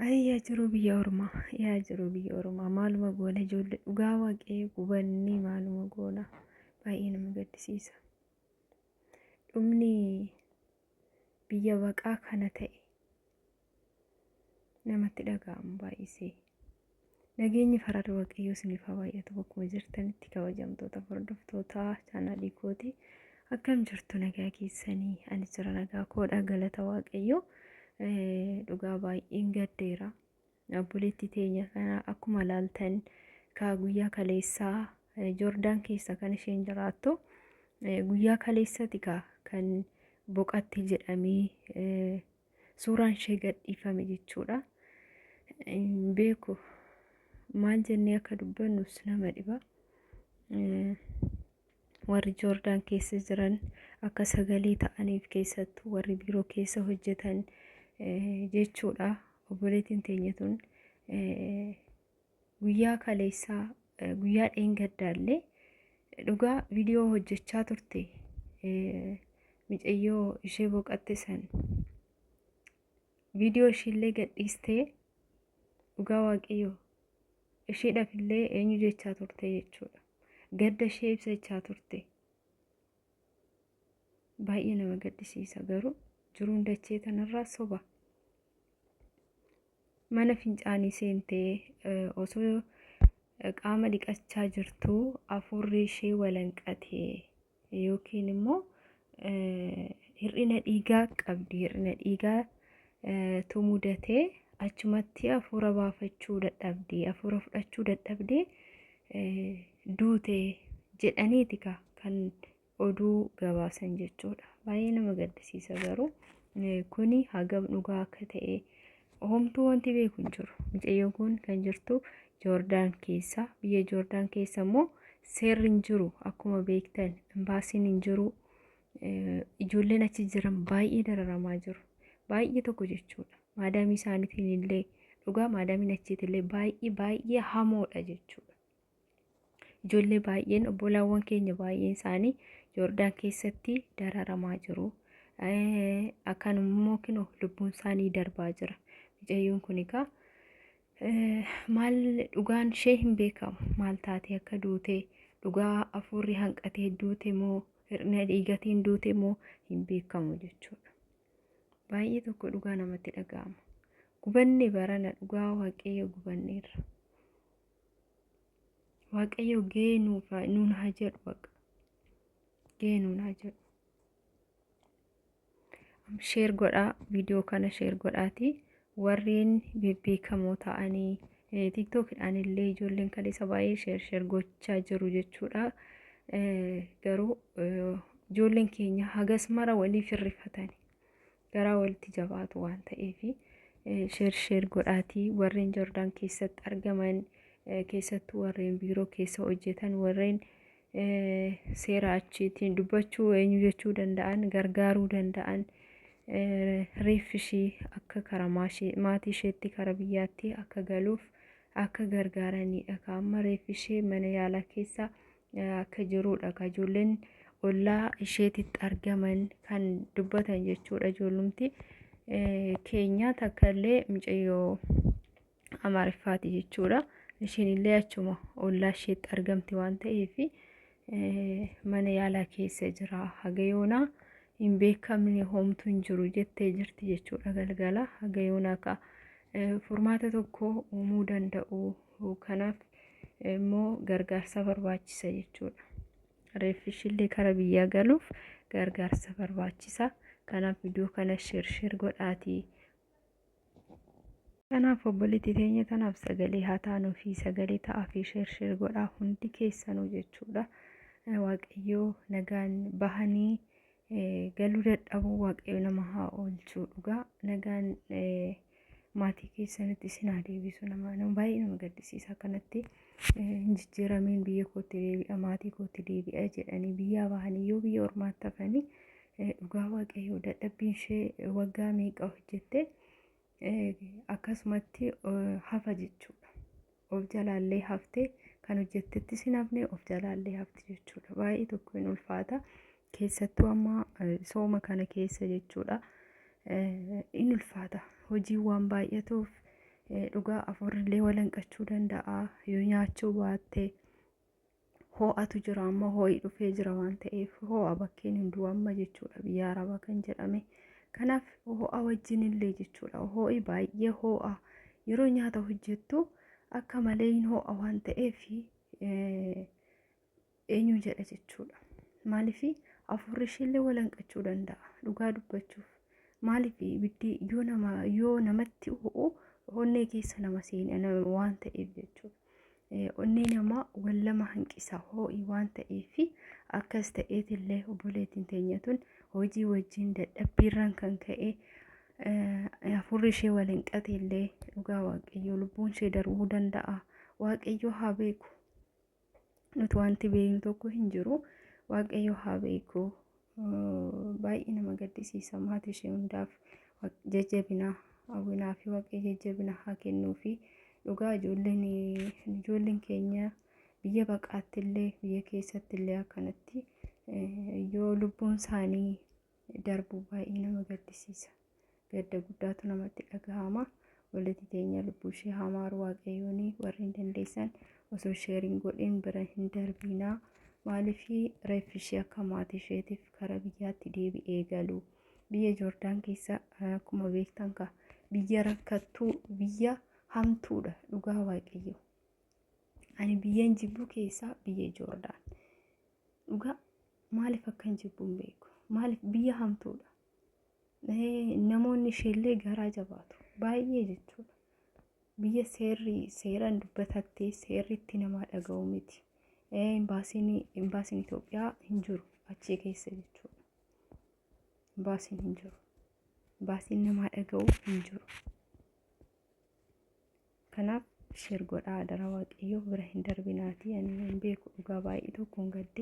Ayii yaa jiruu biyya ormaa yaa jiruu biyya ormaa maaluma goona ijoollee dhugaa waaqayyo gubannee maaluma goona baay'ee nama gaddisiisa. Dhumni biyya baqaa kana ta'e namatti dhaga'amu baay'isee. Nageenyi farada waaqayyoo isiniif haa baay'atu bakkuma jirtanitti kabajamtoota hordoftoota chaanaalii kooti akkam jirtu nagaa keessanii ani jira nagaa koodha galata waaqayyoo dhugaa baay'een gaddeera obboleettii teenya kana akkuma laaltan kaa guyyaa kaleessaa joordaan keessa kan isheen jiraattu guyyaa kaleessati kaa kan boqatti jedhamee suuraan ishee gadhiifame jechuudha. Hin beeku maal jennee akka dubbannus nama dhiba. Eh, Warri Joordaan keessa jiran akka sagalee ta'aniif keessattuu warri biiroo keessa hojjetan eh, jechuudha. Obboleettiin teenya tun eh, guyyaa kaleessaa eh, guyyaa dheengaddaallee dhugaa viidiyoo hojjechaa turte eh, micayyoo ishee boqatte san viidiyoo ishiillee gadhiistee dhugaa waaqayyoo ishiidhaaf illee eenyu jechaa turte jechuudha gadda ishee ibsachaa turte Baay'ee nama gaddisiisa garuu jiruun dachee tanarraa soba. Mana fincaanii seentee eh, osoo eh, qaama dhiqachaa jirtuu afuurri ishee walanqatee yookiin immoo eh, hir'ina dhiigaa qabdi. Hir'ina dhiigaa eh, tu mudatee achumatti afuura baafachuu dadhabdee afuura fudhachuu dadhabdee eh, duute jedhaniiti ka kan oduu gabaasan jechuudha. Baay'ee nama gaddisiisa garuu kuni hagam dhugaa akka ta'e homtuu wanti beeku hin jiru. Mucayyoon kun kan jirtu Joordaan keessa. Biyya Joordaan keessa immoo seerri hin jiru akkuma beektan imbaasiin hin jiru. Ijoolleen achi jiran baay'ee dararamaa jiru. Baay'ee tokko jechuudha. Maadaamii isaaniitiin illee dhugaa maadaamiin achiitillee baay'ee baay'ee hamoodha jechuudha. Ijoollee baay'een obbolaawwan keenya baay'een isaanii Joordaan keessatti dararamaa jiru. Akkanummoo kinoo lubbuun isaanii darbaa jira. Mucayyoon kun egaa maal dhugaan ishee hin beekamu. Maal taatee akka duute dhugaa afuurri hanqatee duute moo hir'ina dhiigatiin duute moo hin beekamu jechuudha. Baay'ee tokko dhugaa namatti dhaga'ama. Gubanne barana dhugaa waaqayyo gubanneerra. waaqayyo gahee nuuf haa- nuun haa jedhu baqa gahee nuun haa jedhu Am- sheer godhaa viidiyoo kana sheer godhaati warreen bebbeekamoo ta'anii eh, tiktookidhaan illee ijoolleen kaleessa baay'ee sheer sheer gochaa jiru jechuudha Eh, garuu eh, ijoolleen keenya hagas mara waliif hirrifatani garaa walitti jabaatu waan ta'eef sheer sheer godhaatii warreen Jordaan keessatti argaman eh, keessattuu warreen biiroo keessa hojjetan warreen eh, seera achiitiin dubbachuu eenyu jechuu danda'an gargaaruu danda'an eh, reeffi ishii akka karaa maashee- maatii isheetti karaa biyyaatti akka galuuf akka gargaaraniidha. Ka amma reeffi ishee mana yaalaa keessa akka jiruudha ka ijoolleen ollaa isheetitti argaman kan dubbatan jechuudha ijoollumti keenya takka illee mucayyoo amaariffaati jechuudha isheen illee achuma ollaa isheetti argamti waan ta'eef mana yaalaa keessa jira hagayoonaa hin beekamne hoomtu hin jiru jettee jirti jechuudha galgala hagayoonaa ka furmaata tokko uumuu danda'u Kanaaf immoo gargaarsa barbaachisa jechuudha. Reeffi ishillee kara biyyaa galuuf gargaarsa barbaachisa. Kanaaf viidiyoo kana sheer sheer godhaatii. Kanaaf obboleettii teenya tanaaf sagalee haa taanuu fi sagalee ta'aa fi sheer sheer godhaa hundi keessanuu jechuudha. Waaqayyoo nagaan bahanii galuu dadhabuu waaqayyo nama haa oolchuu dhugaa nagaan maatii keessanitti isin haa deebisu nama nama baay'ee nama gaddisiisa kanatti hin jijjiiramiin biyya kootti deebi'a maatii kootti deebi'a jedhanii biyyaa bahanii yoo biyya ormaatti hafanii dhugaa waaqayyo dadhabbiin ishee waggaa meeqa hojjette akkasumatti hafa jechuudha. of jalaallee hafte kan hojjettettis hin hafne of jalaallee hafti jechuudha baay'ee tokko hin ulfaata keessattuu amma eh, sooma kana keessa jechuudha eh, hin ulfaata hojiin waan baay'atuuf eh, dhugaa afurrillee walanqachuu danda'a yoo nyaachuu baatte hoo'atu jira amma hoo'i dhufee jira waan ta'eef hoo'a bakkeen hunduu amma jechuudha biyya arabaa kan jedhame kanaaf hoo'a wajjin illee jechuudha hoo'i baay'ee hoo'a yeroo nyaata hojjettu akka malee hin hoo'a waan ta'eef eenyu jedha jechuudha maaliif afuurri isheellee walanqachuu danda'a dhugaa dubbachuuf maaliif ibiddi yoo nama yoo namatti ho'u onnee keessa nama seena waan ta'eef jechuudha. Onnee namaa wal lama hanqisa hoo'i waan ta'eef akkas ta'eetillee obboleettiin teenya tun hojii wajjin dadhabbiirraan kan ka'e hafuurri ishee wal hin qateellee dhugaa waaqayyoo lubbuun ishee darbuu danda'a. Waaqayyoo haa beeku. Nuti wanti beeknu tokko hin jiru. Waaqayyoo haa beeku. Baay'ee nama gaddisiisa maatii ishee hundaaf jajjabina hawwinaa fi waaqayyo jajjabina haa kennuu fi dhugaa ijoolleen ijoolleen keenya biyya baqaatti illee biyya keessatti illee akkanatti yoo lubbuun isaanii darbu baay'ee nama gaddisiisa. gadda guddaatu namatti dhagahama walitti teenya lubbuu ishee hamaar waaqayyoon warri hin dandeessan osoo sheeriin godhin bira hin darbiinaa maaliif reeffi ishee akka maatii isheetiif karaa biyyaatti deebi'ee galu biyya joordaan keessa akkuma beektan ka biyya rakkattuu biyya hamtuudha dhugaa waaqayyo ani biyyan jibbuu keessaa biyya joordaan dhugaa maaliif akkan jibbuun beeku maaliif biyya hamtuudha namoonni isheellee garaa jabaatu baay'ee jechuudha. Biyya seerri seeraan dubbatattee seerri itti namaa dhaga'u miti. Imbaasiin imbaasiin Itoophiyaa hin jiru achii keessa jechuudha. Imbaasiin hin jiru. Imbaasiin namaa dhaga'u hin jiru. Kanaaf sheer godhaa adaraa waaqayyoo bira hin darbinaatii ani hin beeku dhugaa baay'ee tokkoon gaddee.